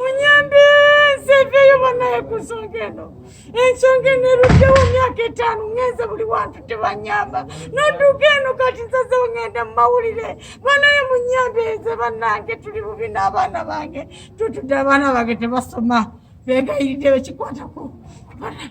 Munyambe nseeveeyo banaye ku nsonga eno ensonga eno eruddewo myaka etaano ngenze buli wantu tebanyamba nodduka eno kati nsazewo ngenda mu mawulire banaye munyambe nze bannange tuli bubi n'abaana bange tutudde abaana bange tebasoma beegayiride bekikwatako banaye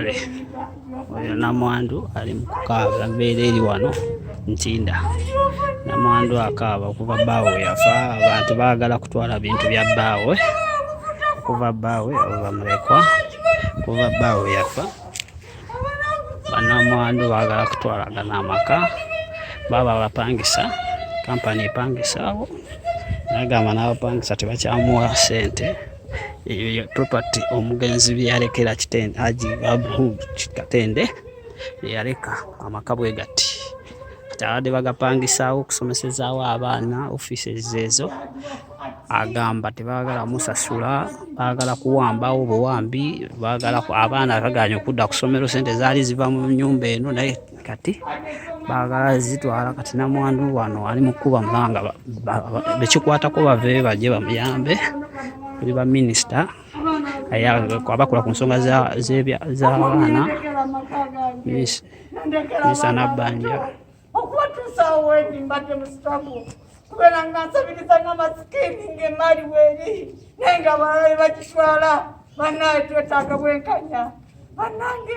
kale oyo namwandu ali mukukaaba mbeera eri wano ntinda namwandu akaaba okuva bbaawo yafa abantu baagala kutwala bintu bya bbaawe okuva bbaawe oba mulekwa okuva bbaawe yafa banamwandu baagala kutwalagana amaka baba bapangisa kampani epangisaawo nagamba n'abapangisa tebakyamuwa sente eyo property omugenzi byeyalekera kitende aji abu katende yeyaleka amaka bwe gati kati abadde bagapangisaawo okusomesezaawo abaana offices ezo agamba tebagala musasula bagala kuwambawo buwambi bagala abaana baganya okudda ku ssomero sente zaali ziva mu nyumba eno naye kati bagala zitwala kati namwandu wano ali mukuba mulanga bekikwatako bave baje bamuyambe tuli baminisita abakola ku nsonga z'abaana minisita nabbanja okuwatuusa awo wendi mbadde mu sitago kubeera nga nsabiriza nga masikini ng'emaali weeri naye nga abalala be bakiswala bannaaye twetaaga bwenkanya bannange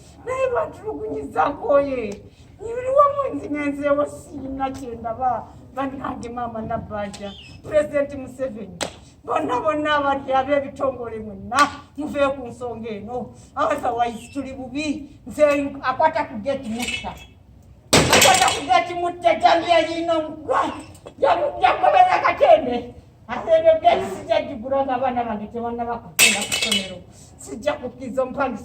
naye lwatulugunyiza nkoye nyibiriwamu nzinenzeewo siina kyendaba banange maama nabanja pulezidenti museveni bonna bonna abali ab'ebitongole mwenna muvee ku nsonga eno abasawaisi tuli bubi nze akwata ku geti mutta akwata ku geti mutta jamiya yiina omugwa jagoberera katende aseebyo geti sijajigura nga abaana bange tebanna bakugenda ku ssomero sijja kukkiriza omupangisa